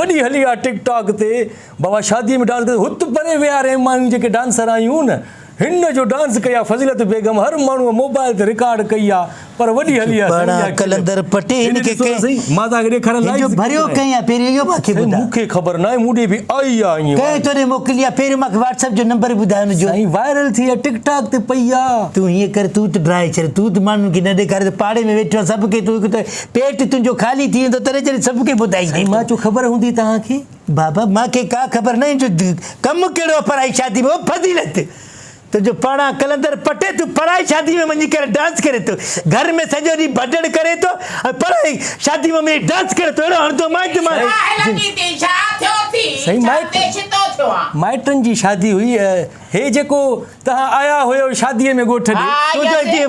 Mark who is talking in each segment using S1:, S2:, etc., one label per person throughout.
S1: وڏي هلي آ ٽڪ ٽاڪ تي بابا شادي ۾ ڊانس ڪندي هت پري ويا رهي مايون جيڪي ڊانسر آيون نه هن جو ڊانس ڪئي آ فضيلت بيگم هر ماڻهو موبائل تي رڪارڊ ڪئي آ پر وڏي هلي آ سائين اها ڪلپ
S2: هيڏي
S1: ڏسو ته سهي
S2: مان توهان کي ڏيکاريان
S1: لائيو سائين مون کي
S2: خبر ناهي مون ڏي به آئي آ ائين وائرل
S1: سائين وائرل
S2: ٿي آ ٽڪ ٽاڪ تي پئي آ. پيٽ تنهنجو خالي ٿي ويندو تڏهن جڏهن سڀ کي ٻڌائيندين. سائين مان چيو خبر هوندي
S1: توهان کي. بابا مان کي
S2: ڪا خبر ناهي جو ڪم ڪهڙو آهي پرائي شادي ۾ او فضيلت تنهنجو پاڙان قلندر پٽي تون پرائي شادي ۾ وڃي ڪري ڊانس ڪري ٿو گهر ۾ سڄو ڏينهن ڀڏڙ ڪري ٿو ۽ پرائي شادي ۾ وڃي ڊانس ڪري ٿو اهڙو هڻندو مانء جو مان سائين
S1: مائٽن جي شادي هئي هي جيڪو توهان آيا هيو شادي ۾ ڳوٺ ڏي.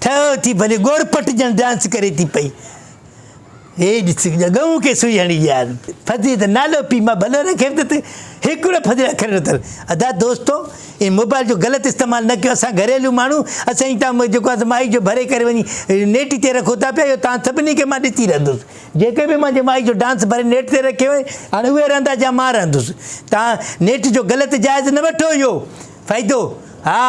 S3: ٺهو
S2: ٿي ڀلي ڳورپٽ ڄڻ ڊانس ڪري ٿي پئي هي ڏس ڳئون کي سوئي هڻي ويا آهن فضي ته نالو پي مان ڀلو رکيم ته هڪڙو فضي اکر نه تل ادا دوستو ان موبائل جو غلط استعمال نه ڪيو اسان گهريلو ماڻهو اسان جي تان جيڪو اسان مائي جو ڀري ڪري وڃي نيٽ تي رکو ٿا پيا اهو تان سڀني کي مان ڏسي رهندس جيڪي به مانجي مائي جو ڊانس ڀري نيٽ تي رکيو آهي هاڻي اهي رهندا جا مان رهندس تان نيٽ جو غلط جائز نه وٺو اهو فائدو ها